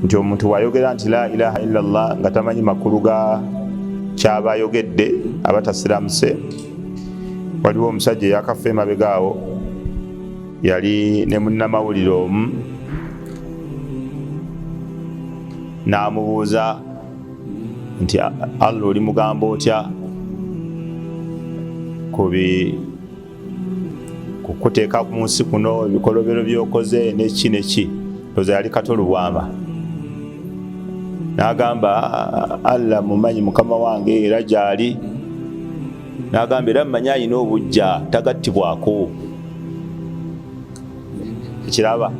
nti omuntu wayogera nti la ilaha illa llah nga tamanyi makulu ga kyaba ayogedde aba tasiramuse waliwo omusajja eyakafa emabega awo yali ne munnamawulire omu n'amubuuza nti allah oli mugamba otya ku kukuteeka ku nsi kuno ebikolobero byokoze neki neki oza yali kato lubwama nagamba allah mumanyi mukama wange era gyali nagamba era mumanyi alina obujja tagattibwako ekiraba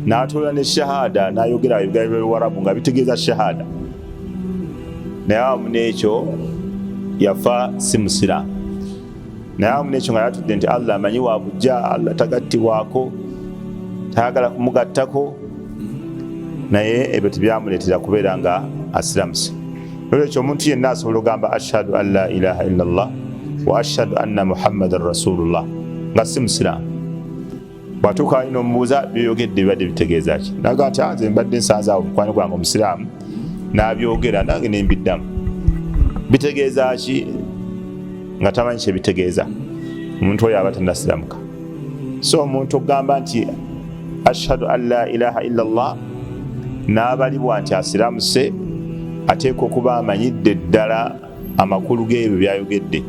natoola ne shahada nayogera ebigalo byewarabu nga bitegeeza shahada naye awamu neekyo yafa si musiraamu naye amu nekyo nga yatudde nti allah amanyi wakujja allah tagattibwako tayagala kumugattako naye ebyo tebyamuleetera kubeera nga asiramuse nolwekyo omuntu yenna asobola ogamba ashhadu an la ilaha illa llah wa ashhadu anna muhammadan rasulullah nga si musiraamu bwatuuka ali nomubuuza byoyogedde bibadde bitegeeza ki naga nti ah, nze mbadde nsanzaawo mukwano gwange omusiraamu nabyogera nange nembiddamu bitegeeza ki nga tamanyi kyebitegeeza omuntu oyo aba tanasiramuka so omuntu okugamba nti ashhadu an la ilaha illa llah n'abalibwa nti asiramuse ateekwa okuba amanyidde ddala amakulu g'ebyo byayogedde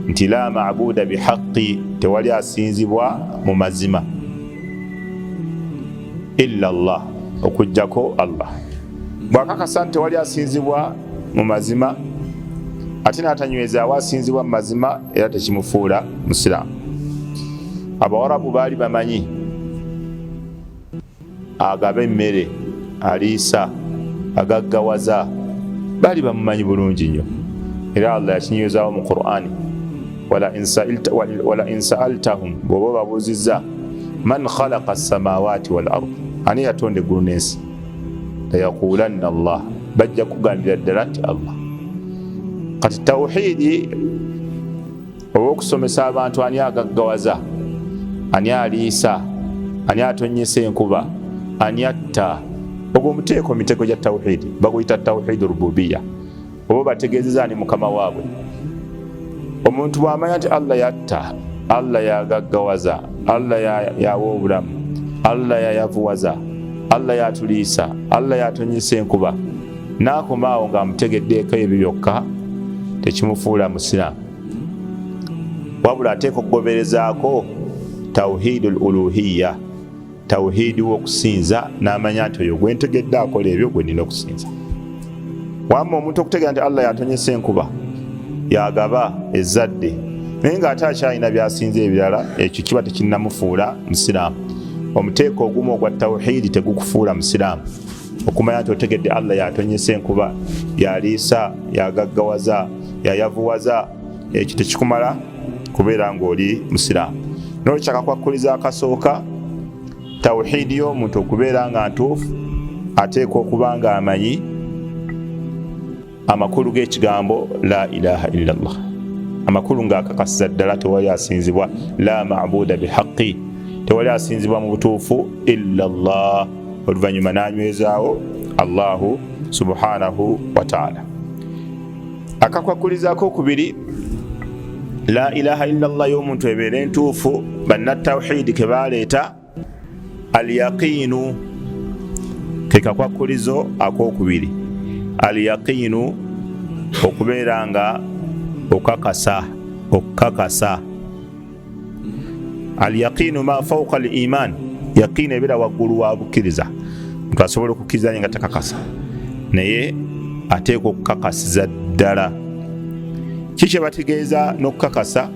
nti la mabuuda bihaqqi tewali asinzibwa mu mazima illa llah okujjako allah bwakakasa nti tewali asinzibwa mu mazima ate natanywezaawo asinzibwa mu mazima era tekimufuula musiraamu abawarabu baali bamanyi agaba emmere aliisa agaggawaza bali bamumanyi bulungi nnyo era allah yakinywezawo mu qurani wala insaaltahum bwoba obabuuzizza man khalaqa samawaati wal ard ani yatonda eggulu n'ensi layaqulanna allah bajja kugambira ddala nti allah kati tawhidi oba okusomesa abantu ani agaggawaza ani aliisa ani atonyesa enkuba ani atta ogwo muteeko mitego gya tawhidi baguyita tawhidi rububiya oba bategezeza ani mukama waabwe omuntu bwamanya nti allah yatta allah yagaggawaza allah yawa obulamu allah yayavuwaza allah yatuliisa allah yatonyesa enkuba nakomaawo ngaamutegeddeeko ebyo byokka tekimufuula musiraamu wabula ateeka okugoberezaako tauhidu l uluhiya tauhidi wokusinza namanya nti oyo gwentegedde akola ebyo gwenina okusinza wamma omuntu okutegera nti allah yatonyesa enkuba yagaba ezadde naye nga ate akyalina byasinza ebirala ekyo kiba tekinamufuula musiraamu omuteeka ogumu ogwa tauhidi tegukufuula musiraamu okumanya nti otegedde allah yatonyesa enkuba yaliisa yagaggawaza yayavuwaza ekyo tekikumala kubeera ngaoli musiraamu nolwekyakakwakkuliza akasooka tawuhiidi y'omuntu okubeera nga ntuufu ateekwa okuba nga amanyi amakulu g'ekigambo la ilaha illa llah amakulu ng'akakasiza ddala tewali asinzibwa la mabuda bihaqi tewali asinzibwa mu butuufu illa llah oluvannyuma n'anywezaawo allahu subhanahu wataala akakwakulizako okubiri la ilaha illa llah y'omuntu ebeera entuufu bannatawhidi ke baleeta alyaqiinu ke kakwakkulizo ak'okubiri alyaqiinu okubeera nga okakasa okukakasa alyaqiinu ma fauka al iman yaqiini ebeera waggulu wa bukkiriza ntu asobola okukkiriza nye nga takakasa naye ateekwa okukakasiza ddala kikyebategeeza n'okukakasa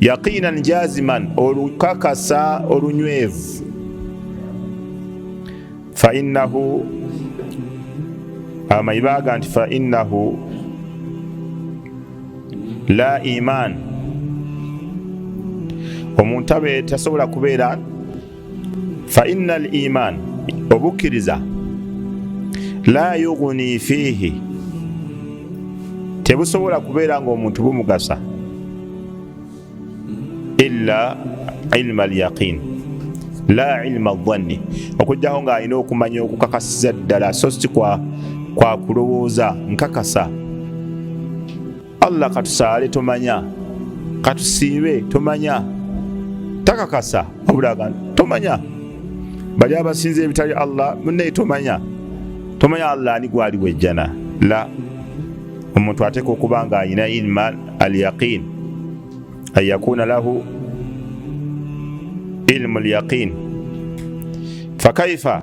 yaqinan jaziman olukakasa olunywevu fainahu abamanyi baga nti fainahu la iman omuntu abe tasobola kubeera faina al iman obukkiriza la yuguni fiihi tebusobola kubeera nga omuntu bumugasa ila ilma alyaqin la ilma dhanni okujjako ng'alina okumanya okukakasiza ddala so si kwa kulowooza nkakasa allah katusaale tomanya katusiibe tomanya takakasa abulaga tomanya bali abasinza ebitali allah munaye tomanya tomanya allah ani gwali wejjana la omuntu ateeka okuba nga alina ilma al yaqin an yakuna lahu ilmu lyaqin fakaifa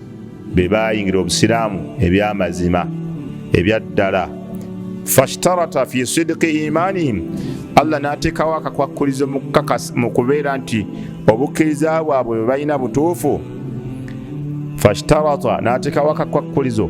be baayingira obusiraamu eby'amazima ebya ddala fashtarata fi sidiki imaanihim allah n'ateekawo akakwakkulizo mu kubeera nti obukkiriza bwabwe bwe balina butuufu fashtarata n'ateekawo akakwakkulizo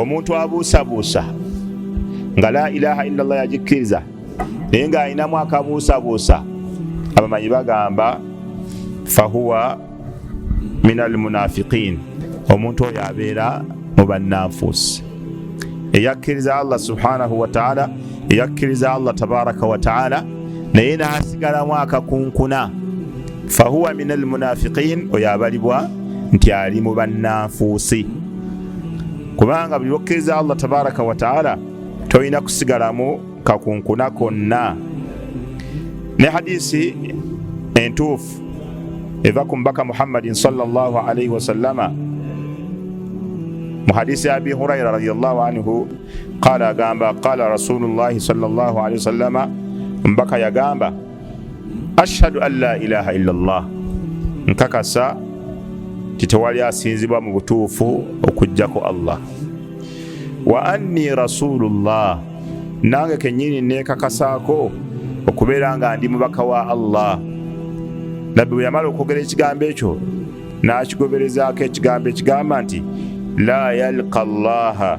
omuntu abuusabuusa nga la ilaha illa llah yagikkiriza naye nga alinamu akabuusabuusa abamanyi bagamba fahuwa min almunafiqin omuntu oyo abeera mu bannanfuusi eyakkiriza allah subhanahu wataala eyakkiriza allah tabaraka wataala naye n'asigalamu akakunkuna fahuwa min almunafiqin oyo abalibwa nti ali mu bannanfuusi kubanga buli lwokkiriza allah tabaraka wataala tolina kusigalamu kakunkuna konna ne hadisi entuufu eva ku mubaka muhammadin salllahalaihi wasallama mu hadisi abi huraira radiallahu anhu qala agamba qala rasulullahi salllahu alehi wasallama mbaka yagamba ashhadu an la ilaha illa llah nkakasa titewali asinzibwa mu butuufu okujjako allah wa anni rasulullah nange kenyini nekakasaako okubeera nga ndi mubaka wa allah nabbi bwe yamala okwogera ekigambo ekyo n'akigoberezaako ekigambo ekigamba nti la yalka llaha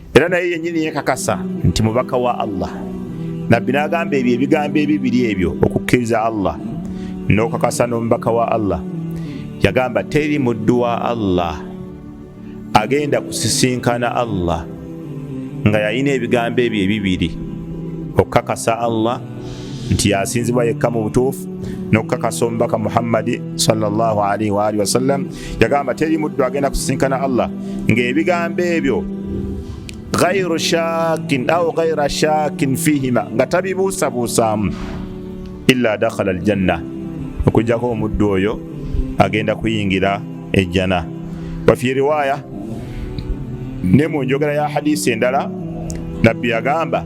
era naye yennyini yekakasa nti mubaka wa allah nabbi n'agamba ebyo ebigambo ebibiri ebyo okukkiriza allah n'okakasa n'omubaka wa allah yagamba teri muddu wa allah agenda kusisinkana allah nga yalina ebigambo ebyo ebibiri okukakasa allah nti yasinzibwa yekka mu butuufu n'okukakasa omubaka muhammadi salllahalihi waalihi wasallam yagamba teri muddu agenda kusisinkana allah ng'ebigambo ebyo ghairu shakin au ghaira shakin fihima nga tabibuusabuusaamu illa dakhala aljanna okujjako omuddu oyo agenda kuyingira ejjana wafi riwaya ne mu njogera ya hadisi endala nabbi yagamba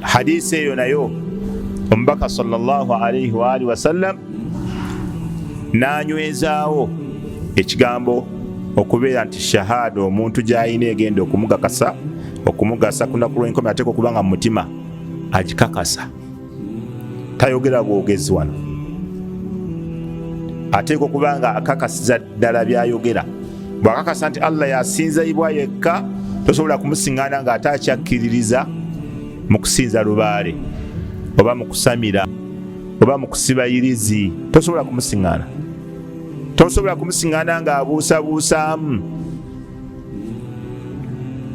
hadisi eyo nayo omubaka salllahalaihi waalihi wasallam nanywezaawo ekigambo okubeera nti shahada omuntu gyalina egenda okumugakasa okumugasa kunaku lwenkome ateka okuba nga mumutima agikakasa tayogera bwogezi wano ateeka okuba nga akakasiza ddala byayogera bwakakasa nti allah yasinzaibwa yekka tosobola kumusingana nga ate akyakkiririza mu kusinza lubaale oba mu kusamira oba mu kusiba irizi tosobola kumusingana tosobola kumusingana nga abuusabuusaamu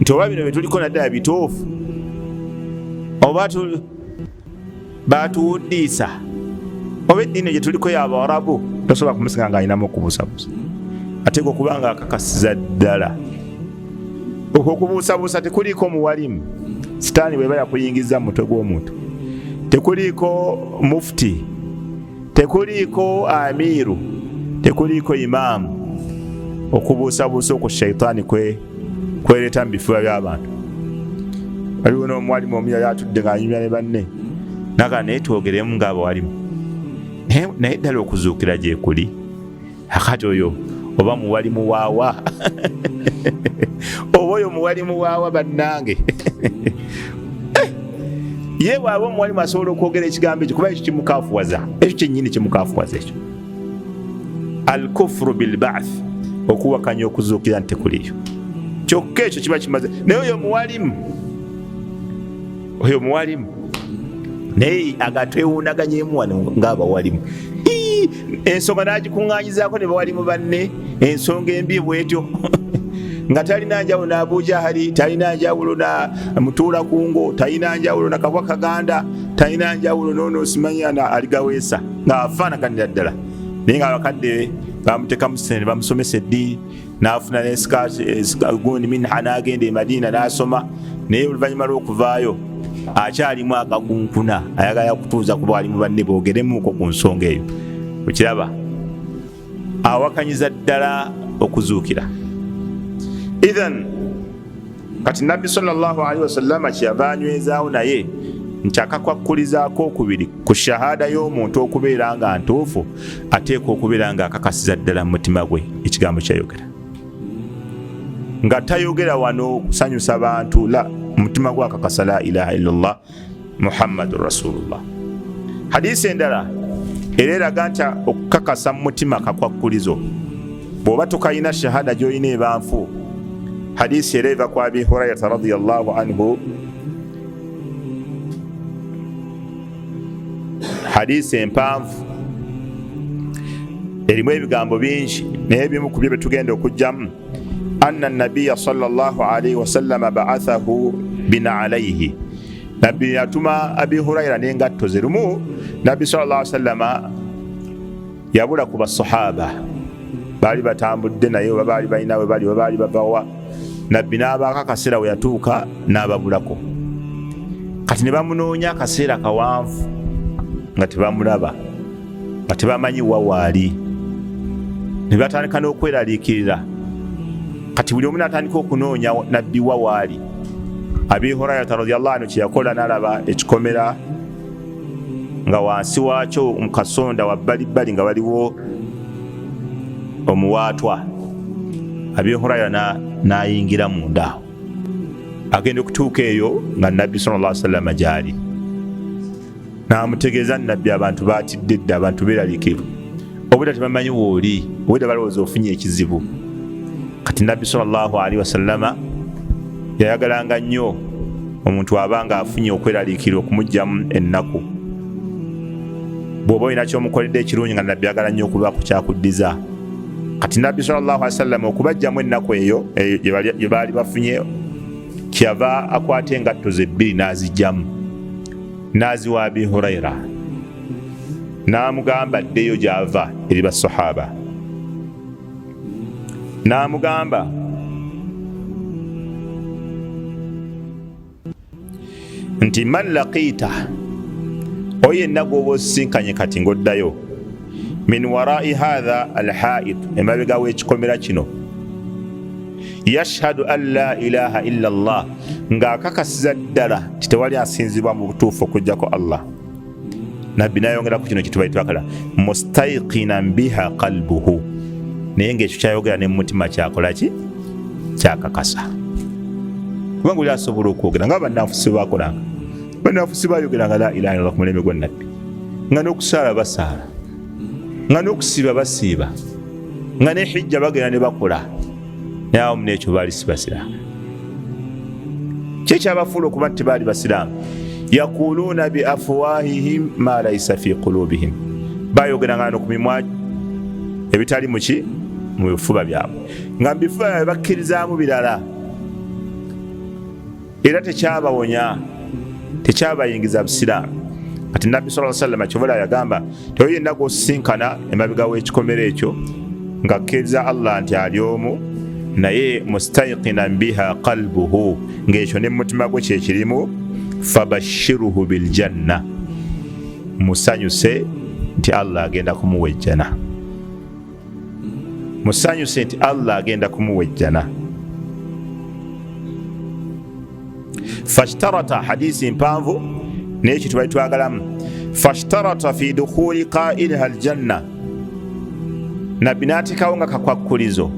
nti oba bino byetuliko naddala bituufu oba baatuwuddiisa oba eddiini gye tuliko yabaarabu tosobola kumusinga nga alinamu okubuusabuusa ateeka okuba nga akakasiza ddala okwo okubuusabuusa tekuliiko omuwalimu sitaani bweba yakuyingiza mu mutwe gw'omuntu tekuliiko mufuti tekuliiko amiiru tekuliiko imaamu okubuusabuusa oku shaitaani kwe kwereeta mu bifuba by'abantu waliwo n'omuwalimu omuyali atudde ng'anyumya ne banne naga naye twogeremu ng'abawalimu naye ddala okuzuukira gye kuli akati oyo oba muwali muwaawa oba oyo muwali muwaawa bannange ye bwaba omuwalimu asobola okwogera ekigambo ekyo kuba ekyo kimukafuwaza ekyo kyennyini kimukafuwaza ekyo alkufuru bilbath okuwakanya okuzuukira nti kuliyo kyokka ekyo kiba kimaze naye oyo muwalimu oyo muwalimu naye agatwewundaganyemu wano ngaabawalimu ensonga nagikuŋŋanyizaako ne bawalimu banne ensonga embi bwetyo nga talina njawulo na abuja hali talina njawulo na mutuula kungo talina njawulo na kabwa kaganda talina njawulo nono simanyana aligaweesa ng'afaanaganira ddala naye nga abakadde bamutekamu sente bamusomesa eddiini n'afuna nesikagundi minha n'agenda e madiina n'asoma naye oluvannyuma lw'okuvaayo akyalimu akakunkuna ayagala kutuuza kuba ali mu banne boogeremuuko ku nsonga eyo okiraba awakanyiza ddala okuzuukira ithan kati nabbi salli wasallama kyeyava anywezaawo naye nti akakwakkulizaako okubiri ku shahada y'omuntu okubeera nga ntuufu ateekwa okubeera nga akakasiza ddala mu mutima gwe ekigambo kyayogera nga tayogera wano kusanyusa bantu la mutima gwe akakasa la ilaha illallah muhammadu rasulullah hadisi endala era eraga nti okukakasa mu mutima kakwakkulizo bw'oba tukalina shahada gy'olina ebanfu hadisi era eva ku abi hurairata radiallahu anhu hadisi empanvu erimu ebigambo bingi naye ebimu ku byo bye tugenda okugyamu anna nabiya salllah alaihi wasallama baathahu bina alaihi nabbi yatuma abi huraira nengatto ze lumu nabbi salllah sallama yabula ku basahaba baali batambudde naye oba baali balina we bali webaali bavawa nabbi n'abaako akaseera we yatuuka n'ababulako kati ne bamunoonya akaseera kawanvu nga tebamulaba nga tebamanyi wawaali ne batandika n'okweraliikirira kati buli omu natandika okunoonya nabbi wawaali abi hurayata radiallah anu kyeyakola nalaba ekikomera nga wansi waakyo mukasonda wabbalibbali nga waliwo omuwaatwa abi hurayra nayingira mundaawo agenda okutuuka eyo nga nabbi salla salama gyali namutegeeza nabbi abantu batidde dde abantu beralikivu obweda tebamanyi wooli obweda balowooza ofunye ekizibu kati nabbi salli wasalama yayagalanga nnyo omuntu aba nga afunye okweralikirwa okumugjamu ennaku bwoba olina kyomukoledde ekirungi nga nabbi agala nnyo okubaku kyakuddiza kati nabbi sallallahu alaihi wasallam okubajjamu ennaku eyo eh, gye baali bafunye kyava akwata engatto ze bbiri n'azijjamu n'aziwa abi huraira n'amugamba addeyo gy'ava eri basahaba n'amugamba nti man laqiita oyo yenna gwoba osisinkanye kati ngaoddayo min warai hatha alhaid emabega wekikomera kino yashhadu an la ilaha illa llah ng'akakasiza ddala nti tewali asinzibwa mu butuufu okujjako allah nabbi nayongera ku kino kitubai twakala mustaiqinan biha qalbuhu naye ngaekyo kyayogera ne mumutima kyakolaki kyakakasa kubanga oli asobola okwogera nga banafusi bakolanga banafusi bayogeranga la ilaha illah kumulembe gwa nabbi nga nokusaala basaala nga nokusiiba basiiba nga nehijja bagenda ne bakola naye awo muna ekyo baali si basiraamu kyekyabafuula okuba nti baali basiraamu yakuluuna bi afuwahihim ma laisa fi kulubihim bayogeranga no ku mimwa ebitali muki mu bifuba byabwe nga mubifuba byabwe bakkirizaamu birala era tekyabawonya tekyabayingiza busiraamu kati nabbi sa salama kyobola yagamba teyo yenna gwosisinkana emabega w'ekikomera ekyo nga kkiriza allah nti ali omu naye mustaiqinan biha qalbuhu ng'ekyo ne mumutima gwe kyekirimu fabashiruhu biljanna musanyuse nti allah agenda kumuwa ejjana musanyuse nti allah agenda kumuwa ejjana fashtarata hadisi mpanvu naye kye tubali twagalamu fashtarata fi dukhuli qailiha aljanna nabbi n'ateekawo nga kakwakkulizo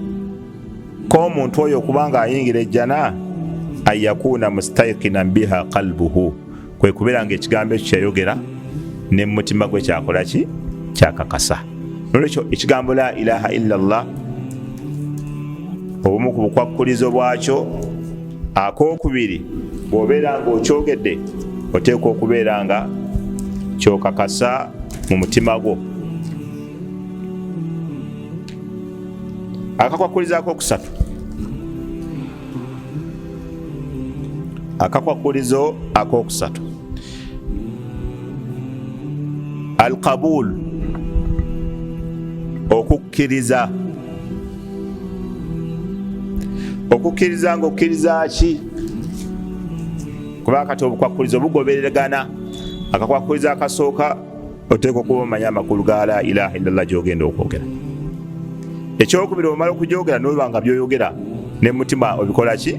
k'omuntu oyo okuba ng'ayingira ejjana an yakuuna mustaiqinan biha qalbuhu kwe kubeera nga ekigambo ekyo kyeyogera ne mu mutima gwe kyakola ki kyakakasa nolwekyo ekigambo la ilaha illa llah obumu ku bukwakkulizo bwakyo akokubiri bwobeera nga okyogedde oteekwa okubeera nga kyokakasa mu mutima gwo akakwakkulizaako okusatu akakwakulizo akokusatu alqabul okukkiriza okukkiriza nga okkiriza ki kuba kati obukwakulizo bugoberegana akakwakulizo akasooka oteekwa okuba omanya amakulu ga la ilaha illallah gyogenda okwogera ekyokubiri omala okugyogera noba nga byoyogera ne mutima obikola ki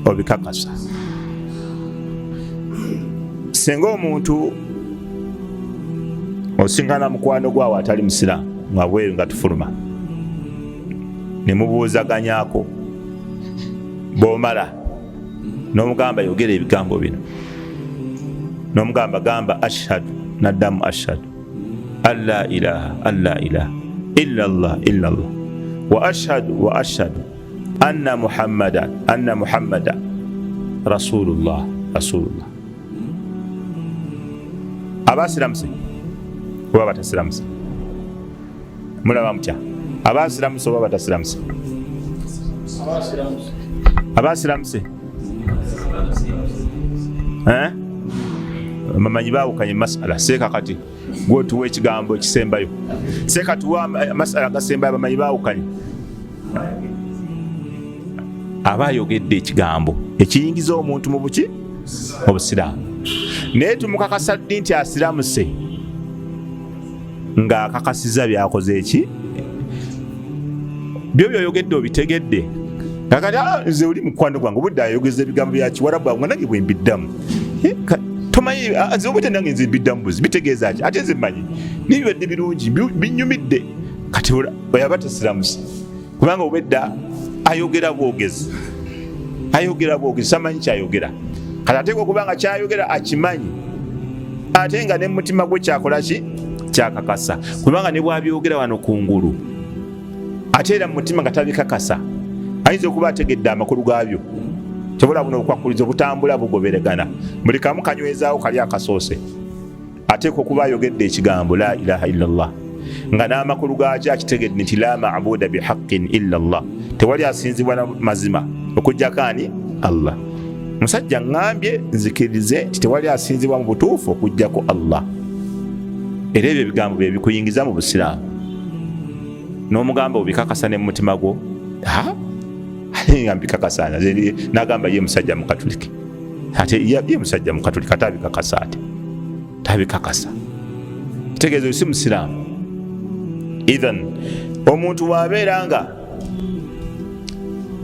obikakasa senga omuntu osingana mukwano gwawe atali musiraamu ngabweru nga tufuluma nemubuuzaganyako bwomala nomugamba yogera ebigambo bino nomugamba gamba ashhadu naddamu ashhadu alla ilaha alla ilaha illa llah illa llah wa ashhadu wa ashhadu anna muhammadan anna muhammada rasulullah rasulullah abasiramusi oba batasiramuse mulaba mutya abaasiramusa oba batasiramusa abaasiramusa mamanyi baawukanye masala seeka kati gwotuwa ekigambo ekisembayo seeka tuwa masala gasembayo bamanyi baawukanye aba ayogedde ekigambo ekiyingiza omuntu mu buki obusiraamu naye tumukakasa ddi nti asiramuse ng'akakasiza byakoze eki byo byoyogedde obitegedde kakati ah, nze oli mukwano gwange obudde ayogeza ebigambo byakiwarabu awo nga nange bwembiddamu eh, tomanyi ah, nze obudde nange nze mbiddamu buzi bitegeeza ki ate nze mmanyi nibibadde birungi binyumidde kati oyaba tesiramuse kubanga obedda ayogera bwogezi ayogera bwogezi samanyi kyayogera kati ateekwa okubanga kyayogera akimanyi ate nga ne mumutima gwe kyakola ki kyakakasa kubanga ne bwabyogera wano ku ngulu ate era mu mutima nga tabikakasa ayinza okuba ategedde amakulu gaabyo kyobola buno obukwakulizo butambula bugoberegana buli kamu kanywezaawo kali akasoose ateekwa okuba ayogedde ekigambo la ilaha illa llah nga n'amakulu gaakyo akitegedde nti la mabuda bihaqqin illa llah tewali asinzibwa na mazima okujjako ani allah musajja ŋambye nzikirize nti tewali asinzibwa mu butuufu okujjako allah era ebyo ebigambo bye bikuyingiza mu busiraamu n'omugamba obikakasa ne mumutima gwo mbikakasa nagamba ye musajja mukatuliki ate yabye musajja mukatuli katabikakasa ate tabikakasa kitegeeza oyo si musiraamu ithan omuntu waabeera nga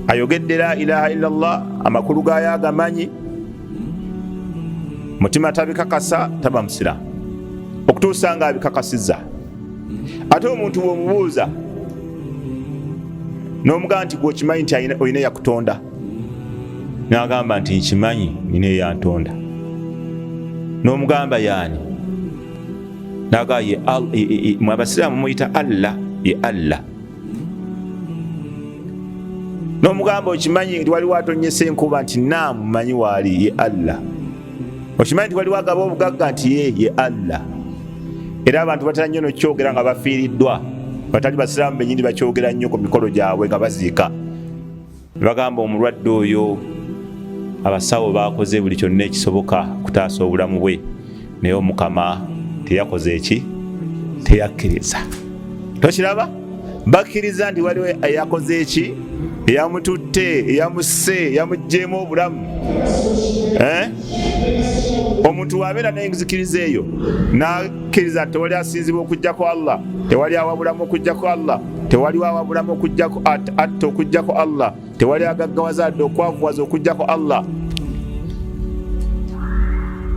ayogedde la ilaha illa llah amakulu gaayo agamanyi mutima tabikakasa taba musiraamu okutuusa nga abikakasiza ate omuntu bwomubuuza nomugamba nti gwokimanyi nti olina yakutonda n'agamba nti nkimanyi nina eyantonda n'omugamba yaani nagaa ye mwe abasiraamu muyita allah ye allah n'omugamba okimanyi nti waliwo atonyesa enkuba nti naamu manyi waali ye allah okimanyi nti waliwo agaba obugagga nti ye ye allah era abantu batera nnyo nokyogera nga bafiiriddwa batali basiraamu benyini bakyogera nnyo ku mikolo gyabwe nga baziika Bagamba omulwadde oyo abasawo baakoze buli kyonna ekisoboka okutaasa obulamu bwe naye omukama teyakoze eki teyakkiriza tokiraba bakkiriza nti waliwo eyakoze eki eyamututte eyamusse eyamugjeemu obulamu eh? omuntu wabeera nenzikiriza eyo nakkiriza tewali asinzibwa okujjaku allah tewali awabulamu okujjaku allah tewaliwo awabulamu okujjako atta okujjako allah tewali agaggawaza adde okwavuwaza okujjako allah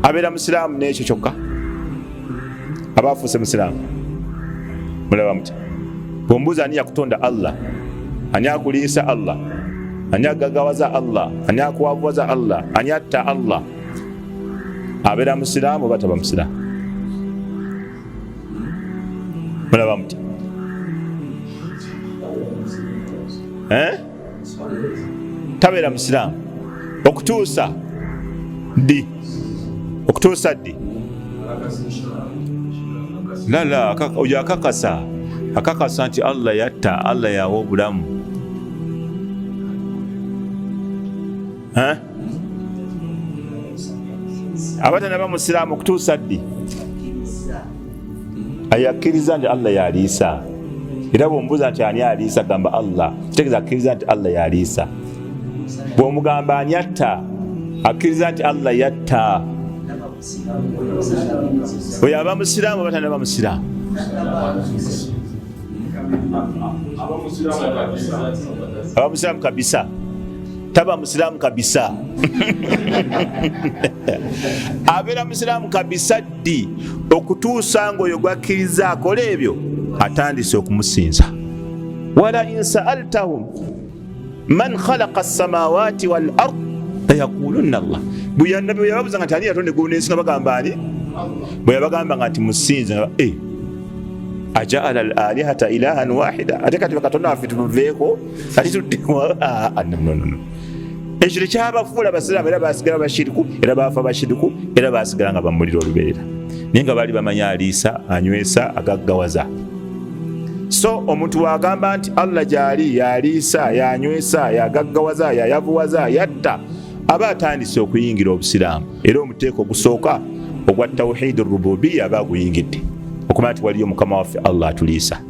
abeera musiraamu n'ekyo kyokka aba afuuse musiraamu mulaba muti bwombuuza ani yakutonda allah ani akuliisa allah ani agagawaza allah ani akuwavuwaza allah ani atta allah abeera musiraamu oba taba musiraamu mulaba mutya eh? tabeera musiraamu okutuusa ddi okutuusa ddi lala oyo akakasa akakasa nti allah yatta allah yawa obulamu abatanaba musiraamu okutuusa ddi ayakkiriza nti allah yaliisa era bwombuuza nti ani aliisa gamba allah kitegeeza akkiriza nti allah yaliisa bwomugamba ani atta akkiriza nti allah yatta oyo aba musiraamu abatanaba musiraamu abamusiraamu kabisa taba musiraamu kabisa abeera musiraamu kabisa ddi okutuusa ngaoyo gwakkiriza akola ebyo atandise okumusinza wala insaaltahum man khalaqa samawati wal ard layakulunna llah bweyannabi bweyababuza nga tani yatonda eggulu nensi nga bagamba ani bweyabagamba nga nti musinze nga e ajaala al alihata ilahan wahida ate kati bakatonda waffe tuluveeko ati tuddewannonono ekyo tekyabafuula basiraamu era basigala bashiriku era baafa bashiriku era basigala nga bamulira olubeerera naye nga baali bamanya aliisa anywesa agaggawaza so omuntu wagamba nti allah gyali yaliisa yanywesa yagaggawaza yayavuwaza yatta aba atandise okuyingira obusiraamu era omuteeka ogusooka ogwa tawhidi rububiya aba aguyingidde okumanya nti waliyo mukama waffe allah atuliisa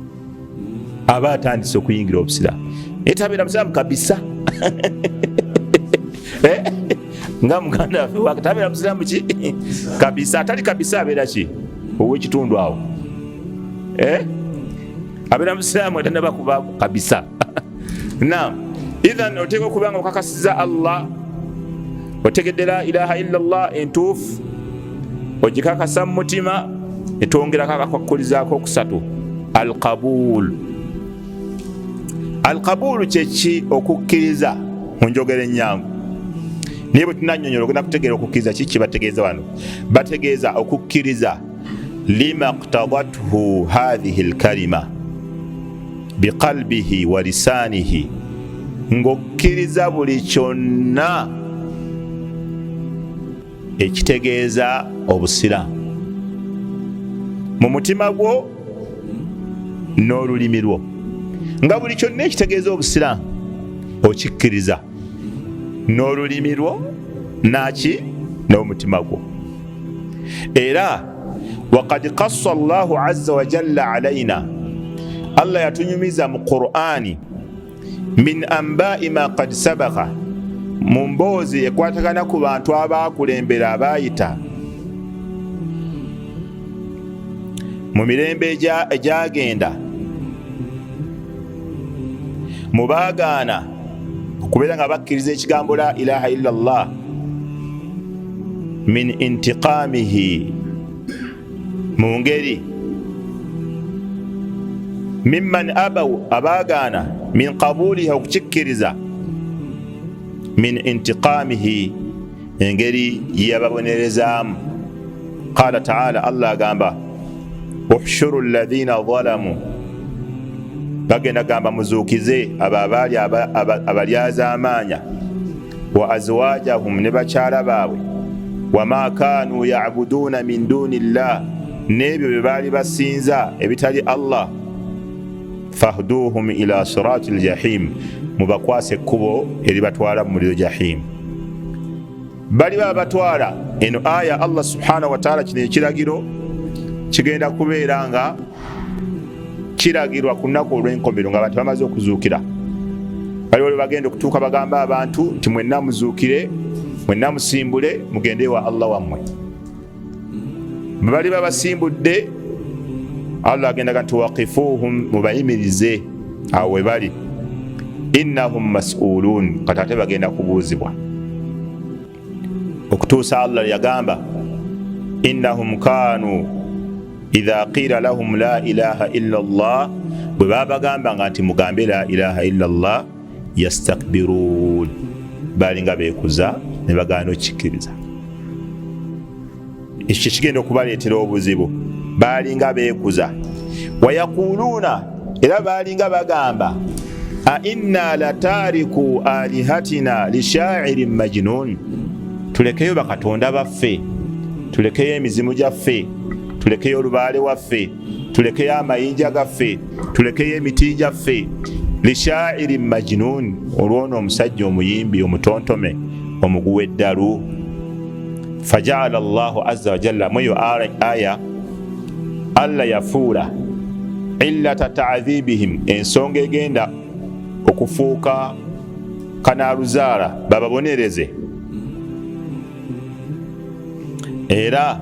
aba atandise okuyingira obusiraamu naye tabeera musiraamu kabisa eh? nga muganda waffe tabeera musiraamu ki kabisa atali kabisa abeera ki owekitundu awo eh? abeera musiraamu atanaba kuba kabisa na ithan oteeka okuba nga okakasiza allah otegedde la ilaha illa llah entuufu ogikakasa mu mutima etwongerako akakwakkulizaako okusatu alqabul alqabulu kyeki okukkiriza mu njogera ennyangu naye bwe tunanyonyola ogenda kutegeera okukkiriza kiki bategeeza wano bategeeza okukkiriza lima ktadathu hadhihi lkalima biqalbihi wa lisaanihi ng'okkiriza buli kyonna ekitegeeza obusiraamu mu mutima gwo n'olulimi lwo nga buli kyonna ekitegeeza obusiraamu okikkiriza n'olulimi lwo naki n'omutima gwo era wakad kassa llahu aza wajalla alaina allah yatunyumiza mu qurani min ambai ma kad sabaka mu mboozi ekwatagana ku bantu abaakulembera abaayita mu mirembe egyagenda mu baagaana okubeera nga bakkiriza ekigambo la ilaha illa llah min intiqamihi mu ngeri mimman abau abaagaana min qabuliha okukikkiriza min intiqamihi engeri gyeyababonerezaamu qala taala allah agamba uhshuru ladhina zalamu bagenda gamba muzuukize abo abaali abalyazaamaanya wa azwajahum ne bakyala baabwe wama kaanu yabuduuna min duuni llah n'ebyo bye baali basinza ebitali allah fahduhum ila sirati ljahim, mubakwase ekkubo eribatwala mu muliro jahim. Baliba abatwala eno aya Allah subhanahu wataala, kino ekiragiro kigenda kubeera nga kiragirwa ku lunaku olw'enkomero nga abantu bamaze okuzuukira. Baliwo lwe bagenda okutuuka bagambe abantu nti mwenna muzuukire, mwenna musimbule mugende ewa Allah wammwe. bwe baliba basimbudde allah agendaga nti wakifuuhum mubayimirize awo we bali innahum masuluun kati ate bagenda kubuuzibwa okutuusa allah yagamba innahum kaanu idha qiila lahum la ilaha illa llah bwe babagambanga nti mugambe la ilaha illa llah yastakbiruun baalinga beekuza ne bagaana okukikkiriza ekyo kyekigenda okubaleetera obuzibu baalinga beekuza wayakuluuna era baalinga bagamba ainna lataariku alihatina lishairin majinun tulekeyo bakatonda baffe tulekeyo emizimu gyaffe tulekeyo olubaale waffe tulekeyo amayinja gaffe tulekeyo emiti gyaffe lishairin majinun olwono omusajja omuyimbi omutontome omuguwa eddalu fajaala llahu aza wajalla mweyo aya allah yafuula illata taadhibihim ensonga egenda okufuuka kanaaluzaala bababonereze era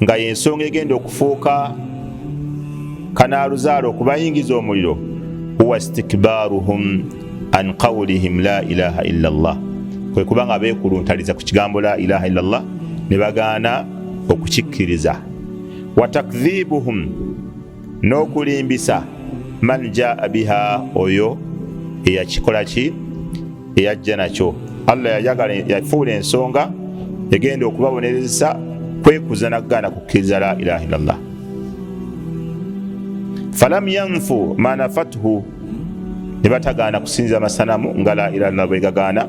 nga yensonga egenda okufuuka kanaaluzaala okubayingiza omuliro huwa stikbaruhum an qaulihim la ilaha illa llah kwe kuba nga beekuluntaliza ku kigambo la ilaha illa llah ne bagaana okukikkiriza watakdhibuhum n'okulimbisa man jaa biha oyo eyakikola ki eyajja nakyo allah yayagala yafuula ensonga egenda okubabonerezesa kwekuza nakugaana kukkiriza la ilaha illallah falam yanfu manafathu ne batagaana kusinza amasanamu nga la ilaha illallah bwegagaana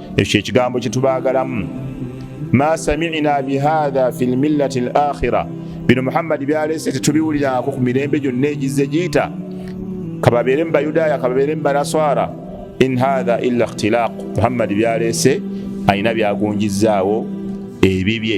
ekyo kyekigambo kyetubaagalamu ma samina bihatha fi lmillati l akhira bino muhammadi byalese tetubiwulirako ku mirembe gyonna egizze giyita kababeere mu bayudaaya kababeere mu banaswara in hatha illa ikhtilaq muhammadi byalese alina byagunjizzaawo ebibye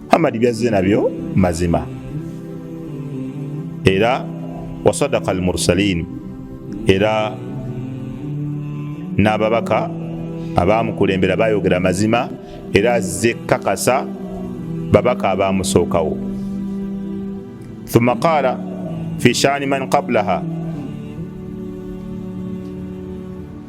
Muhammad byazze nabyo mazima era wasadaka almursalin era n'ababaka abaamukulembera bayogera mazima era azze kakasa babaka abaamusookawo thumma qaala fi shaani man qablaha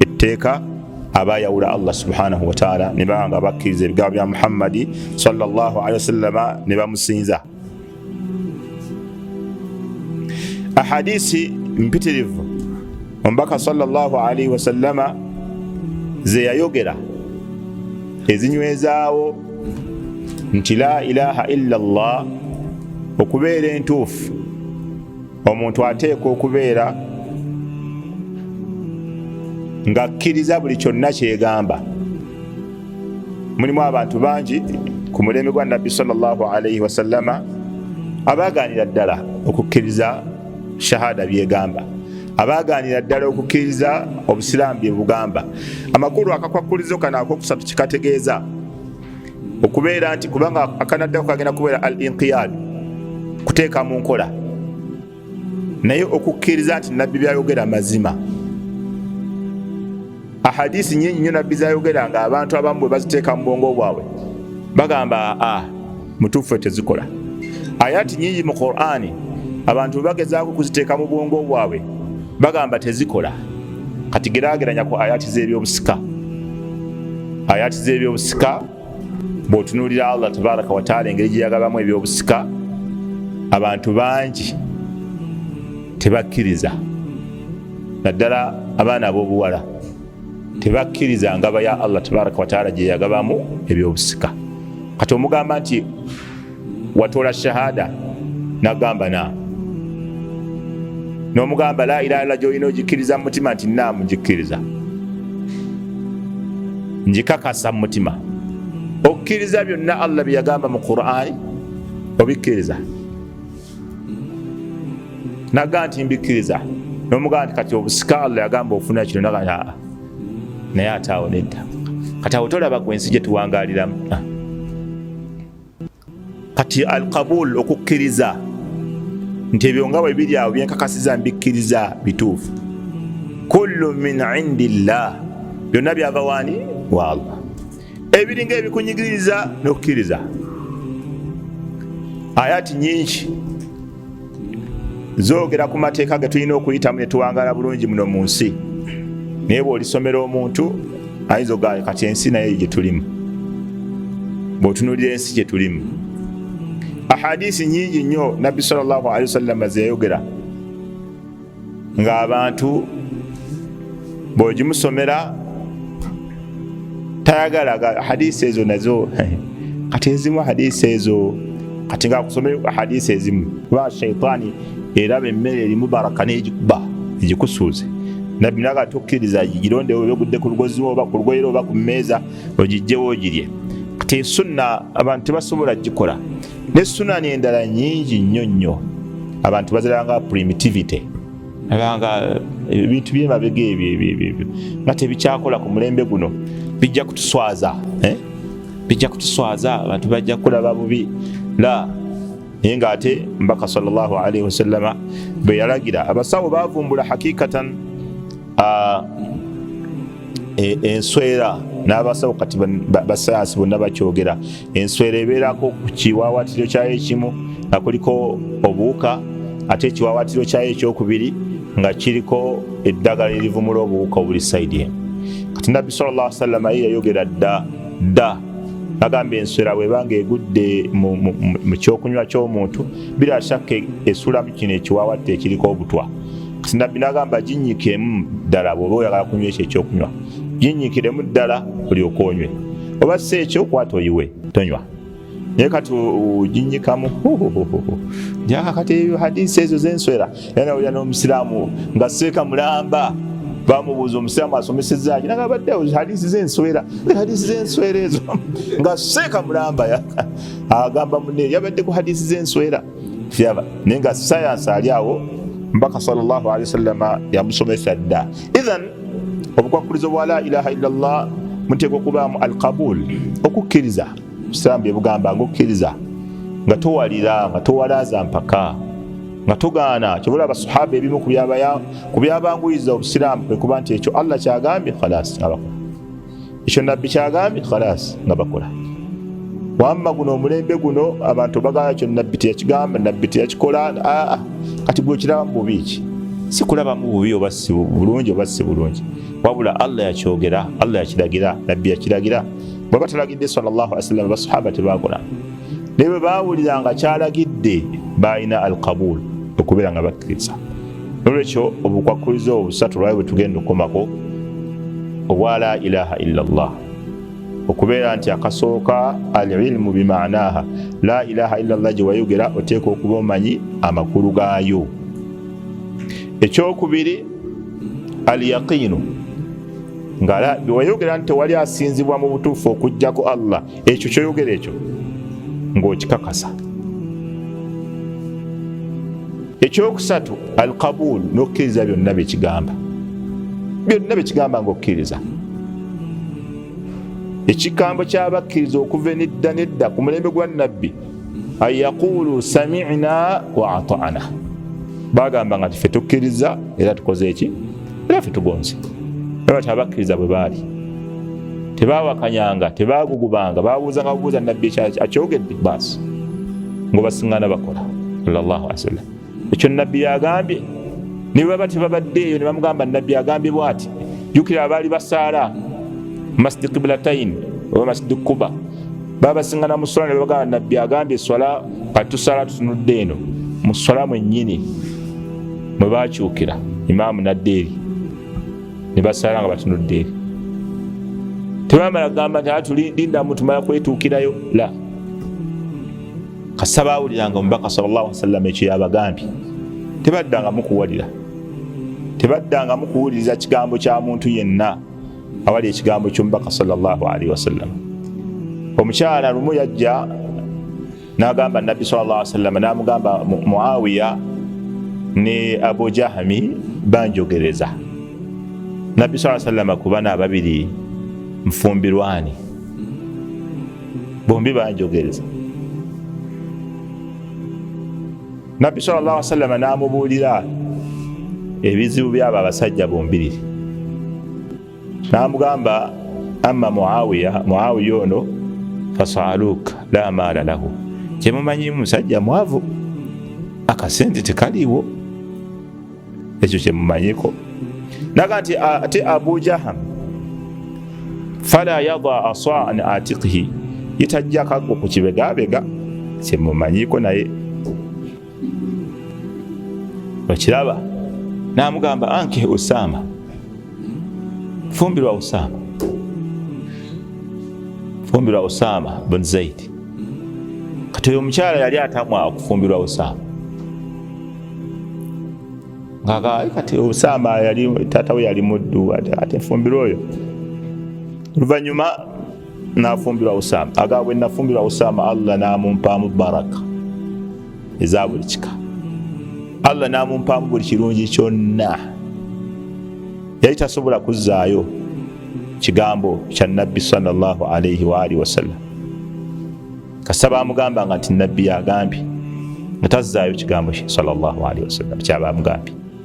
etteeka abayawula allah subhanahu wataala ne baba nga bakkiriza ebigambo bya muhammadi salllahalihi wasallama ne bamusinza ahadisi mpitirivu omubaka salllahalihi wasallama zeyayogera ezinywezaawo nti la ilaha illa llah okubeera entuufu omuntu ateekwa okubeera ng'akkiriza buli kyonna kyegamba mulimu abantu bangi ku mulembe gwa nabbi salllah alaihi wasallama abaaganira ddala okukkiriza shahada byegamba abaaganira ddala okukkiriza obusiraamu bye bugamba amakulu akakwakkulizo kano akokusatu kikategeeza okubeera nti kubanga akanaddako kagenda kubeera al inqiyad kuteeka mu nkola naye okukkiriza nti nabbi byayogera mazima ahadisi nyingi nyo nabbi zayogera nga abantu abamu bwe baziteeka mu bwongo bwabwe bagamba a mutuufu tezikola ayati nyingi mu qurani abantu bwe bagezaako kuziteeka mu bwongo bwabwe bagamba tezikola kati gerageranya ku ayati z'ebyobusika ayati z'ebyobusika bw'otunuulira allah tabaraka wataala engeri gye yagabamu ebyobusika abantu bangi tebakkiriza naddala abaana ab'obuwala tebakkiriza ngaba ya allah tabaraka wataala gye yagabamu ebyobusika kati omugamba nti watola shahada nagamba na nomugamba la ilaha illa gyolina ogikkiriza mumutima nti naamu ngikkiriza ngikakasa mumutima okkiriza byonna allah byeyagamba mu qurani obikkiriza naga nti mbikkiriza nomugamba nti kati obusika allah yagamba ofuna kino nagaa naye ate awo nedda kati awo tolaba gwe ensi gye tuwangaliramu ah. kati alkabul okukkiriza nti ebyo nga bwe biri awo byenkakasiza mbikkiriza bituufu kullu min indi llah byonna byava waani wa allah ebiringa ebikunyigiriza n'okukkiriza ayati nyingi zogera ku mateeka ge tulina okuyitamu netuwangala bulungi muno mu nsi naye bwolisomera omuntu ayinza ogaa kati ensi naye gyetulimu bwotunulira ensi gyetulimu ahadisi nyingi nnyo nabbi salllahalihi wasallama zeyayogera ng'abantu bw'ogimusomera tayagala hadiisi ezo nazo kati ezimu hadiisi ezo kati ng'akusomera hadiisi ezimu kuba shaitaani eraba emmere erimu baraka n'egikuba egikusuuze nabbi naga tukkiriza girondewo oba ogudde ku lugozi oba ku lugoyera oba ku mmeeza ogijjewo ogirye kati sunna abantu tebasobola gikola ne sunani endala nyingi nnyo nnyo abantu baziranga primitivity abanga eh, ebintu byemabega ebyo ebyo ebyo nga tebikyakola ku mulembe guno bijja kutuswaza eh? bijja kutuswaza abantu bajja kulaba bubi la naye nga ate mbaka salllah alaihi wasallama bwe yalagira abasawo bavumbula hakikatan ah, e, enswera n'abasawo kati basayansi bonna bakyogera enswera ebeerako ku kiwaawatiro kyayo ekimu nga kuliko obuwuka ate ekiwaawatiro kyayo ekyokubiri nga kiriko eddagala erivumula obuwuka obuli saidi emu kati nabbi salllah salama ye yayogera dda dda agamba enswera bwebanga egudde mu kyokunywa kyomuntu bila shakka esulamu kino ekiwawatta ekiriko obutwa kati nabbi nagamba ginyikemu ddala bwoba oyagala kunywa ekyo ekyokunywa ginnyikiremu ddala olyoka onywe oba si ekyo kwata oyiwe tonywa naye kati oginyikamu jakakati ebyo hadisi ezo zenswera era nawulira n'omusiraamu nga seeka mulamba bamubuuza omusiraamu asomesezaki nagabadde hadisi zenswera hadisi zenswera ezo nga seeka mulamba agamba mune yabadde ku hadisi zenswera kiraba naye nga sayansi ali awo mbaka salllahu alehi wasallama yamusomesa dda ithan obukwakkulizo bwa la ilaha illa llah muteekwa okubaamu alkabul okukkiriza busiramu byebugamba nga okukkiriza nga towalira nga towalaza mpaka nga tugaana kyobola abasahaba ebimu ku byabanguyiza obusiraamu kwekuba nti ekyo allah kyagambye khalas abako ekyo nabbi kyagambye khalas nga bakola wamma guno omulembe guno abantu bagala kyo nabbi teyakigamba nabbi teyakikola aa kati gwekiraba mububi ki sikulaba mububi oba si bulungi oba si bulungi wabula allah yakyogera allah yakiragira nabbi yakiragira bwaba talagidde sawasalam basahaba tebakola naye bwe bawulira nga kyalagidde balina alkabul okubeera nga bakkiriza nolwekyo obukwakkulizo obusatu lwayo bwe tugenda okukomako obwa la ilaha illa llah okubeera nti akasooka alilmu bimaanaha la ilaha illa llah gye wayogera oteeka okuba omanyi amakulu gaayo ekyokubiri alyaqiinu nga wayogera nti tewali asinzibwa mu butuufu okujjako allah ekyo kyoyogera ekyo ng'okikakasa ekyokusatu al kabul n'okukkiriza byonna byekigamba byonna byekigamba ng'okukkiriza ekigambo kyabakkiriza okuva enidda nedda ku mulembe gwa nabbi an yaqulu samina wa atana bagamba nga tife tukkiriza era tukoze eki era ffe tugonze era bati abakkiriza bwe baali tebawakanyanga tebagugubanga babuuzanga bubuuza nabbi akyogedde baasi ngaobasiŋŋana bakola sallallahu alaihi wasallam ekyo nabbi yagambye ne baba tebabadde eyo ne bamugamba nabbi agambye bwati jukira abaali basaala masjid qiblatain oba masjid kuba babasiŋŋana mu swala ne babagamba nabbi agambye eswala kati tusaala tutunudde eno mu swala mwennyini mwe baakyukira imaamu nadda eri ne basaala nga batunudde eri tebamala kugamba nti atulinda mutumala kwetuukirayo la kasita baawuliranga omubaka salllah ali wasallam ekyo yabagambye tebaddanga mukuwalira tebaddanga mukuwuliriza kigambo kya muntu yenna awali ekigambo ky'omubaka salllah alihi wasallam omukyala lumu yajja N'agamba Nabbi sallallahu alaihi wasallam, n'amugamba Muawiya ne Abu Jahami banjogereza Nabbi sallallahu alaihi wasallam ku bana ababiri nfumbirwani, bombi banjogereza. Nabbi sallallahu alaihi wasallam n'amubuulira ebizibu by'abo abasajja bombiriri namugamba amma muawiya muawiya ono fasaluk la maala lahu kyemumanyimu musajja mwavu akasente tekaliiwo ekyo kyemumanyiko naga nti ate abu jaham fala yada asaan atikihi yetajjakago ku kibegabega kyemumanyiko naye okiraba namugamba anke usama fumbirwa usama fumbirwa usama bun zaidi kati oyo omukyala yali atamwa okufumbirwa usama ngaka kati usama yali tata we yali muddu ate nfumbirwa oyo oluvanyuma nafumbirwa usama aga bwe nafumbirwa usama allah namumpaamu baraka eza buli kika allah namumpaamu buli kirungi kyonna yali tasobola kuzzaayo kigambo kya nabbi salllah alaihi waalihi wasallam kasita bamugamba nga nti nabbi yagambye nga tazzaayo kigambo kye salllah alihi wasallam kyabamugambye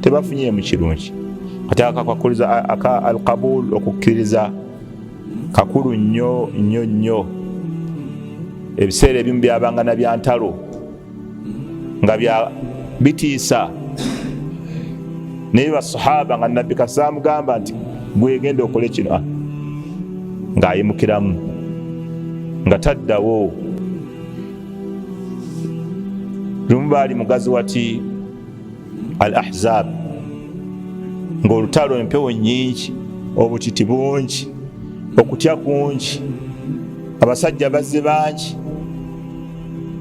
tebafunye mu kirungi kati akakakuriza aka alqabul okukkiriza kakulu nnyo nnyo nnyo ebiseera ebimu byabanga na byantalo nga bya bitiisa naye basahaba nga nabbi kasamugamba nti gwegenda okole kino ah, ng'ayimukiramu nga taddawo lumu baali mugazi wati al ahzab ng'olutalo empewo nyingi obutiti bungi okutya kungi abasajja bazze bangi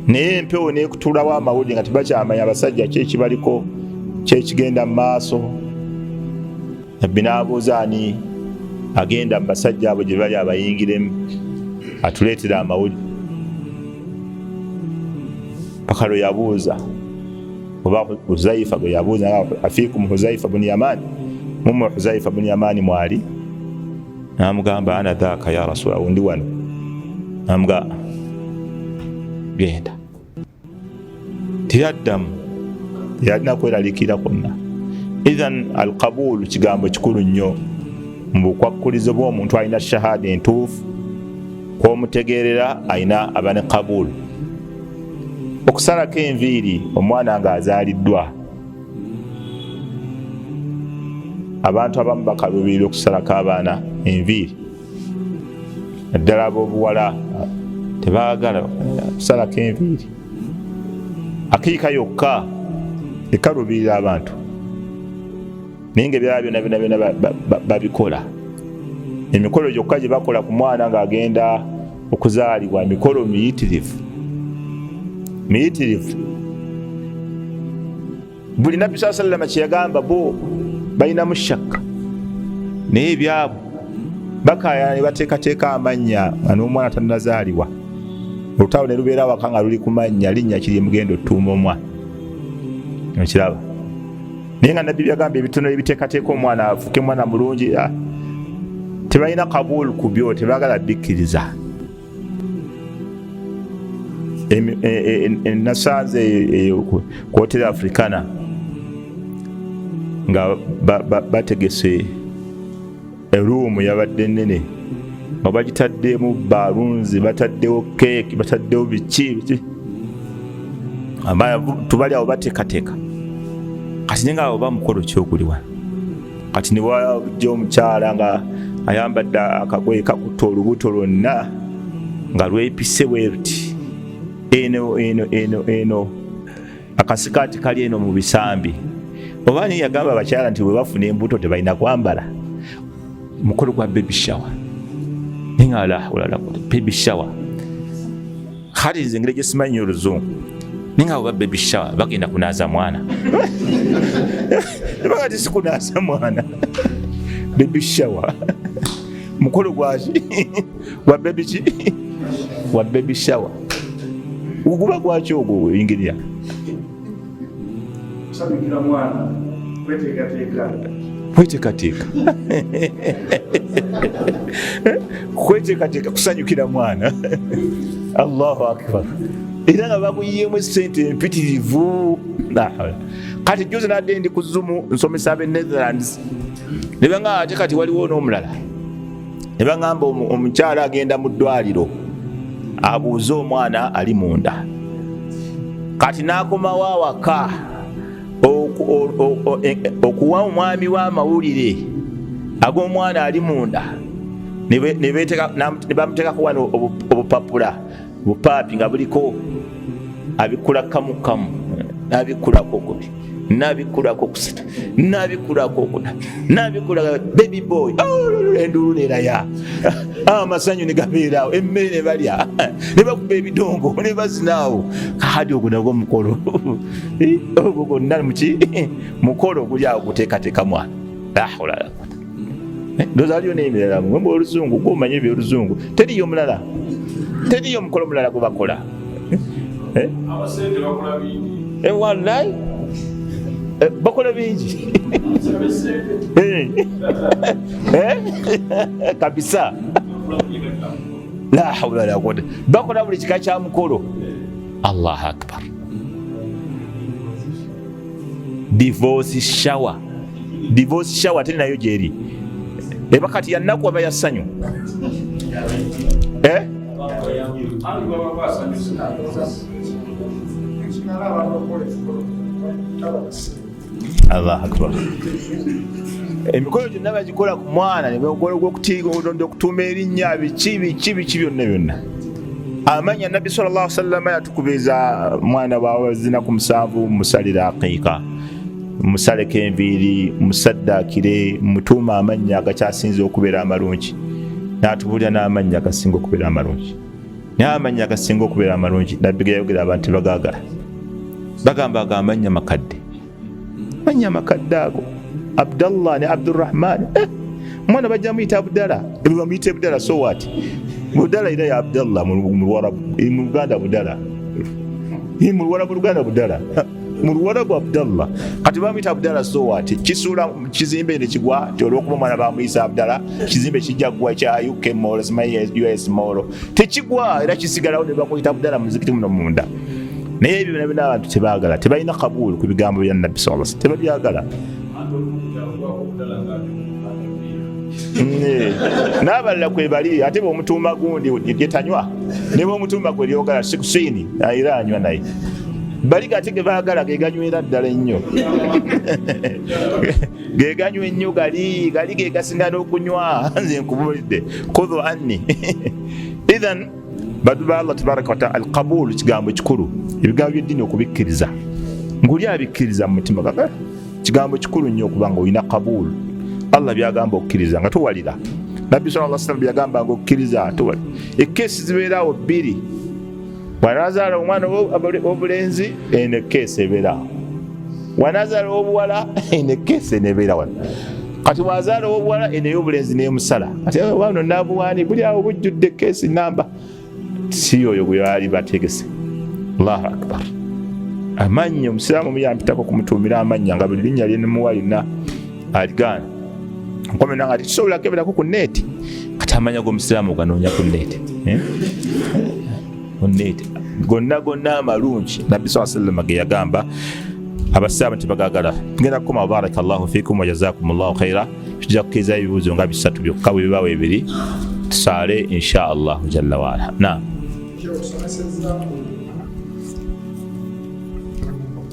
naye empewo nekutulawo amawulire nga tebakyamanya abasajja kyekibaliko kyekigenda mu maaso nabbi n'abuuza ani agenda mu basajja abo gye bali abayingiremu atuleetera amawulire paka lwe yabuuza oba huzaifa gwe yabuuza nga afikum huzaifa buni yamani mumwe huzaifa buni yamani mwali namugamba ana dhaka ya rasula undi wano namuga genda teyaddamu teyalina kweralikira kwonna ithan alkabulu kigambo kikulu nnyo mu bukwakkulizo bwomuntu alina shahada entuufu kwomutegeerera alina abane kabulu okusalako enviiri omwana nga azaaliddwa abantu abamu bakaluubirira okusalako abaana enviiri naddala abobuwala tebagala kusalako enviiri akiika yokka ekaluubirira abantu naye nga ebyala byona byona byona babikola emikolo gyokka gye bakola ku mwana ng'agenda okuzaalibwa emikolo miyitirivu miyitirivu buli nabbi saa sallama kyeyagamba bo balinamu shakka naye ebyabo bakayana ne bateekateeka amannya nga n'omwana tannazaalibwa olutalo ne lubeera waka nga luli ku mannya linnya kiri mugenda otuuma omwana okiraba naye nga nabbi byagamba ebitono ebiteekateeka omwana afuke mwana mulungi ah. tebalina kabul ku byo tebagala bikkiriza e, e, e, nasanze kuhoteri africana nga bategese ba, ba, eruumu yabadde nene nga bagitaddemu balunzi bataddewo keeki bataddewo biki biki tubali awo bateekateeka kati nenga oba mukolo kyokuliwa kati newajja omukyala nga ayambadde akagoye kakutta olubuto lwonna nga lwepise bweruti eno eno eno eno akasikaati kali eno mu bisambi oba ni yagamba abakyala nti bwe bafuna embuto tebalina kwambala mukolo gwa baby shower naye nga alahulala baby shower kati nze engeri gye simanyi oluzungu naye nga oba baby shower bagenda kunaaza mwana ebaga ti sikunaaza mwana baby shower mukolo gwaki wa baby ki wa baby shower uguba gwaki ogwo oyingirira kwetekateeka kwetekateeka kusanyukira mwana allahu akbar era nga bakuyiyeemu esente empitirivu kati juzi nadde ndi ku zumu nsomesa abe netherlands nebenga ate kati waliwo n'omulala ne baŋamba omukyala agenda mu ddwaliro abuuze omwana ali munda kati n'akomawo awaka e, e, okuwa omwami we amawulire ag'omwana ali munda ne bamuteekako wano obupapula bupaapi nga buliko abikkula kamu kamu nabikkulako okubi nabikkulako okusita nabikkulako okuna nabikkula baby boy oh, enduulu neraya ah, amasanyu negabeeraawo emmere nebalya nebakuba ebidongo nebazinaawo kaadi ogwo nagwo mukolo eh, ogwo gonna muki mukolo oguli awo guteekateeka mwana Eh, ndoza aliyo n'emirala mwe mbu oluzungu gwe omanye ebyoluzungu teriyo omulala teriyo omukolo omulala gwe bakola eh? Eh, wallahi bakola bingi kabisa lahawula lakuwata bakola buli kika kya mukolo allahu akbar divorce shower divorce shower ate nayo gyeri eba kati yannaku aba ya ssanyu eh? allah akbar emikolo gyonna bagikola ku mwana nemukolo gwokutuuma erinnya biki biki biki byonna byonna amanya nabbi salllah sallama yatukubiriza mwana wawe zinaku musanvu musalire aqiika musaleko enviiri musaddakire mutuuma amannya agakyasinze okubeera amalungi natubulira n'amannya agasinga okubeera amalungi naye amannya agasinga okubeera amalungi nabbi geyayogera abantu bagagala bagamba ago amannya makadde manya amakadde ago abdallah ne abdurahman eh, omwana bajja muyita abdala bamuyita ebdala so wat budala era ya abdallah muluganda budala muluwarabu luganda budala muluwarabu abdallah kati bamuyita abdala so wat kisuula kizimbe ne kigwa ti olwokuba omwana bamuyisa abdala kizimbe kijja kugwa kya uk mall simanyi us mall tekigwa era kisigalawo ne bakuyita budala muzikiti muno munda naye ebyo byona byona abantu tebagala tebalina kabulu ku bigambo bya nabbi saa sa tebabyagala nabalala kwebali ate bwomutumba gundi yetanywa nebwomutumba gwe lyogala sikusini era anywa naye bali gati gebagala geganywera ddala ennyo geganywa ennyo gali gali gegasinga n'okunywa nze nkubulidde kudhu anni ithan badu ba allah tabaraka wataala alqabulu kigambo kikulu ebigambo byeddiini okubikkiriza nguli abikkiriza mu mutima gaga kigambo kikulu nnyo okuba nga olina kabulu allah byagamba okukkiriza nga towalira nabbi saa salam byagamba nga okukkiriza towalira ekkeesi zibeeraawo bbiri wanazaala omwana obulenzi eno ekkeesa ebeera wanazaala obuwala eno ekkeesa enebeera wano kati wazaala obuwala eno ey'obulenzi nemusala kati wano nabuwaani buli awo bujjudde ekkeesi namba si oyo gwe baali bategese allahu akbar amannya omusiraamu muyampitako kumutuumira amannya nga buli linnya lyenemuwa lina aligaana nkomyo nange ati tusobola keberako ku neeti kati amanya gomusiraamu oganoonya ku neeti eh? ku neeti gonna gonna amalungi nabbi saa sallama ge yagamba abasiraamu tebagagala tugenda kukoma baraka llahu fikum wajazakum llahu khaira tujja kukiriza ebibuuzo nga bisatu byokka bwe bibawo ebiri tusaale insha allahu jalla waala naam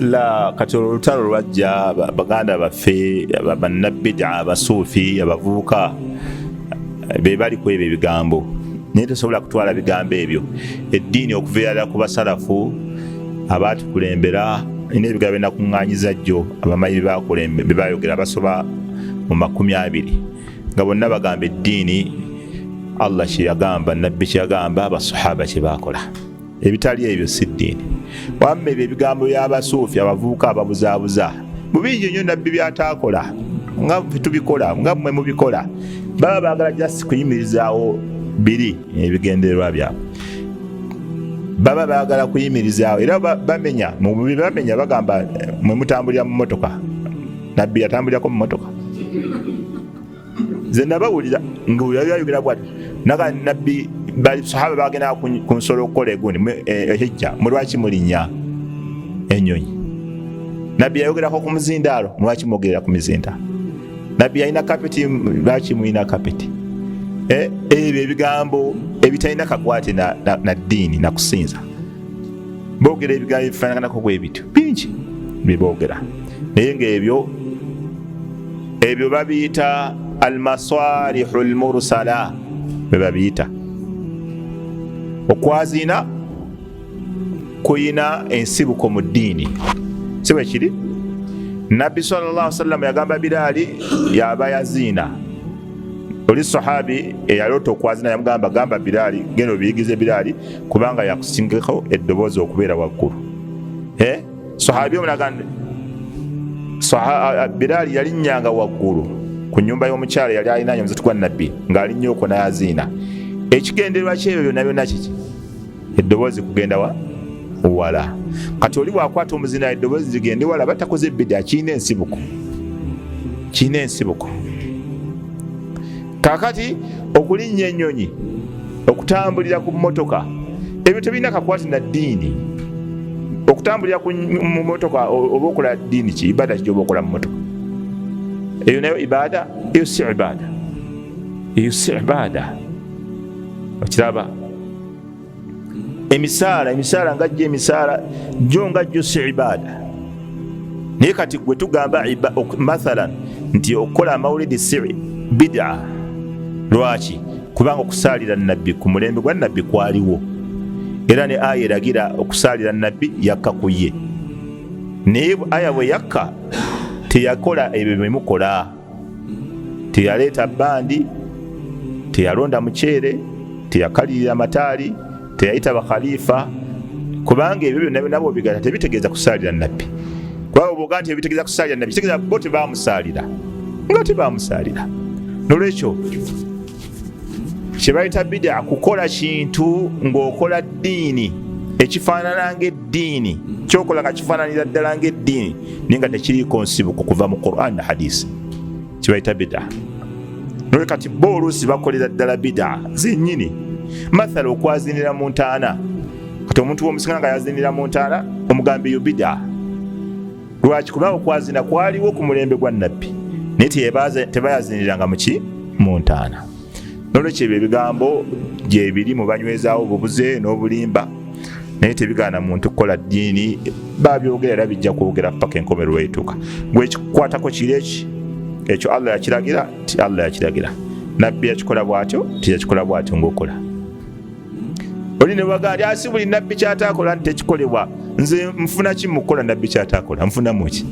la kati olwo olutalo lwajja baganda baffe bannabida abasuufi abavubuka be bali ku ebyo ebigambo naye tosobola kutwala bigambo ebyo eddiini okuviirala ku basalafu abaatukulembera nina ebigambo byenakuŋŋanyiza jjo abamanyi byebayogera basoba mu makumi abiri nga bonna bagamba eddiini allah kyeyagamba nabbi kyeyagamba abasahaba kyebakola ebitali ebyo si ddiini wamma ebyo ebigambo byabasuufi abavubuka ababuzaabuza mubingi nyo nabbi byataakola nga tubikola nga mwe mubikola baba bagala jasi kuyimirizaawo biri ebigendererwa byabwe baba bagala kuyimirizaawo era bamenya mubibamenya bagamba mwe mutambulira mu motoka nabbi yatambulirako mumotoka nze nabawulira ngaoyo yali ayogera bwati naga nabbi sahaba bagenda ku nsolo okukola egundi ehijja eh, mulwaki mulinya enyonyi nabbi yayogerako ku muzindaalo mulwaki mwogerera ku mizinda nabbi yalina kapeti lwaki mulina kapeti eh, ebyo ebigambo ebitalina kakwate na ddiini nakusinza boogera ebigambo ebifaanaganako bwe bityo bingi bye boogera naye ng'ebyo ebyo babiyita almasalihu lmursala bwe babiyita okwaziina kuyina ensibuko mu ddiini si bwe kiri nabbi salllah sallam yagamba biraali yaba yaziina oli sahabi eyaloota okwazina yamugamba gamba biraali genda obiyigize biraali kubanga yakusingako eddoboozi okubeera waggulu eh? sahabi omulagande biraali yalinnyanga waggulu ku nyumba y'omukyala yali alinayo omuzati gwa nabbi ng'alinnya okwo nayaziina ekigendererwa kyebyo byonna byonna kiki eddoboozi kugenda wa wala kati oli wakwata omuzina eddoboozi zigende wala batakoze ebida kirina ensibuko kirina ensibuko kakati okulinnya ennyonyi okutambulira ku mmotoka ebyo tebirina kakwati na ddiini okutambulira mu motoka oba okola ddiini ki ibaada kigyoba okola mu motoka eyo nayo ibaada eyo si ibaada eyo si ibaada okiraba emisaala emisaala nga jjo emisaala jjo nga jjo si ibaada naye kati gwe tugamba mathalan nti okukola amawulidi si bidaa lwaki kubanga okusaalira nabbi ku mulembe gwa nabbi kwaliwo era ne aya eragira okusaalira nabbi yakka ku ye naye aya bwe yakka teyakola ebyo byemukola teyaleeta bandi teyalonda muceere teyakalirira mataali teyayita bakhalifa kubanga ebyo byonna byonabo bigata tebitegeeza kusaalira nabbi kubanga obwoga nti ebitegeeza kusaalira nabbi kitegeeza bo tebamusaalira nga tebamusaalira nolwekyo kyebayita bidaa kukola kintu ng'okola ddiini ekifaanana ngaeddiini kyokola nga kifaananira ddala ngaeddiini naye nga tekiriiko nsibuko kuva mu quran na hadisi kyebayita bidaa noe kati bo oluusi bakolera ddala bidaa zennyini mathala okwazinira mu ntaana kati omuntu womusinga nga yazinira mu ntaana omugambi yo bidaa lwaki kubanga okwazina kwaliwo ku mulembe gwa nabbi naye tebayaziniranga muki mu ntaana nolwekyo ebyo ebigambo gyebiri mu banywezaawo obubuze n'obulimba naye tebigaana muntu kukola ddiini babyogera era bijja kwogera paka enkomerero weituuka gwekikwatako kiri eki ekyo allah yakiragira ti allah yakiragira nabbi yakikola bwatyo tiyakikola bwatyo ngaokola oli newaga ali asi buli nabbi kyatakola nti tekikolebwa nze nfuna ki mukukola nabbi kyatakola nfunamu ki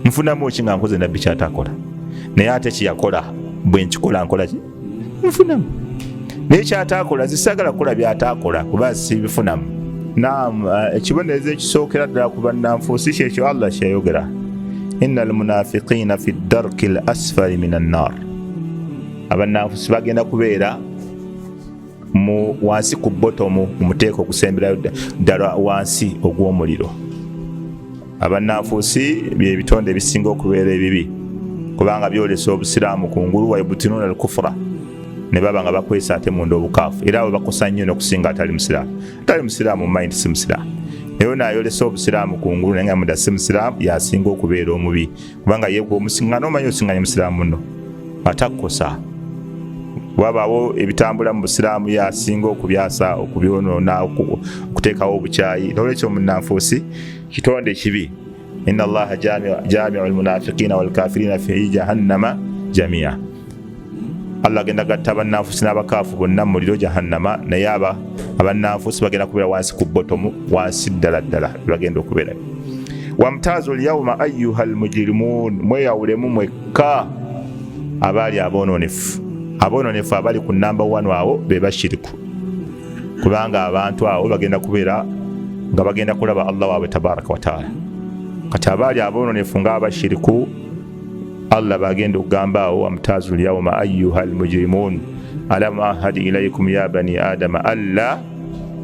nfunamu ki nga nkoze nabbi kyatakola naye ate kyeyakola bwe nkikola nkola ki nfunamu naye kyatakola zisagala kukola byatakola kuba sibifunamu nam eh, ekibonerezo ekisookera ddala ku bannanfuusi kyekyo allah kyeyayogera ina almunafiqiina fi darki l asfali min annar abannanfuusi bagenda kubeera mu wansi ku botomu mumuteeka okusemberayo ddala wansi ogw'omuliro abannanfuusi byebitonde ebisinga okubeera ebibi kubanga byolesa obusiraamu ku ngulu waibutinuna alkufura ne baba nga bakwesa ate munda obukaafu era abo bakosa nnyo nokusinga atali musiraamu atali musiraamu mumaindi si musiraamu naye nayolesa obusiraamu ku ngulu naye nga muda si musiraamu yasinga okubeera omubi kubanga ye gwomusingana omanyi osinganya musiraamu no atakkosa wabaawo ebitambula mu busiraamu yasinga okubyasa okubyonoona okuteekawo obukyayi nolwekyo munanfuusi kitonde kibi ina allaha jamiu lmunafiqina walkafirina fi jahannama jamia Allah agenda gatta abannanfusi n'abakaafu bonna mu muliro jahannama naye aba abannanfusi bagenda kubeera wansi ku botomu wansi ddala ddala bagenda okubeerayo wamtaazu lyauma ayuha lmujirimun mweyawulemu mwekka abaali aboononefu aboononefu abali ku namba wanu awo be bashiriku kubanga abantu awo bagenda kubeera nga bagenda kulaba allah waabwe tabaraka wataala kati abaali aboononefu ng'abashiriku allah bagenda okugamba awo wamutazu lyauma ayuha lmujirimun alam ahad ilaikum ya bani adama alla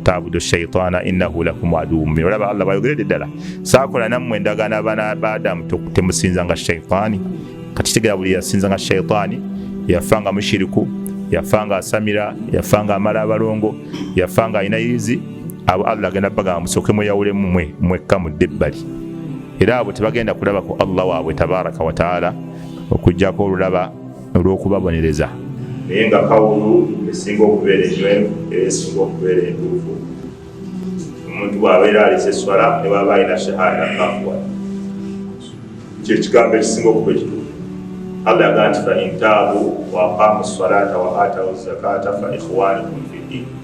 tabudu shaitana inahu lakum aduwu mubin olaba allah bayogerede ddala sakola nammwe endagaano abaana ba adamu temusinza nga shaitaani kakitegera buli yasinza nga shaitaani yafa nga mushiriku yafa nga asamira yafa nga amala abalongo yafa nga alina yizi abo allah agenda bagamba musooke mweyawulemu mwe mwekka mudde ebbali era abo tebagenda kulaba ku allah waabwe tabaraka wataala okujjako olulaba olw'okubabonereza naye nga kawulu esinga okubeera enywevu era esinga okubeera entuufu omuntu bwabeera alisa eswala ne bwaba alina shahada kafuwa kyekigambo ekisinga okuba ekituufu allah yagaa nti fa intaabu waaqaamu salata wa atawu zakata fa ikhwanikum fi ddini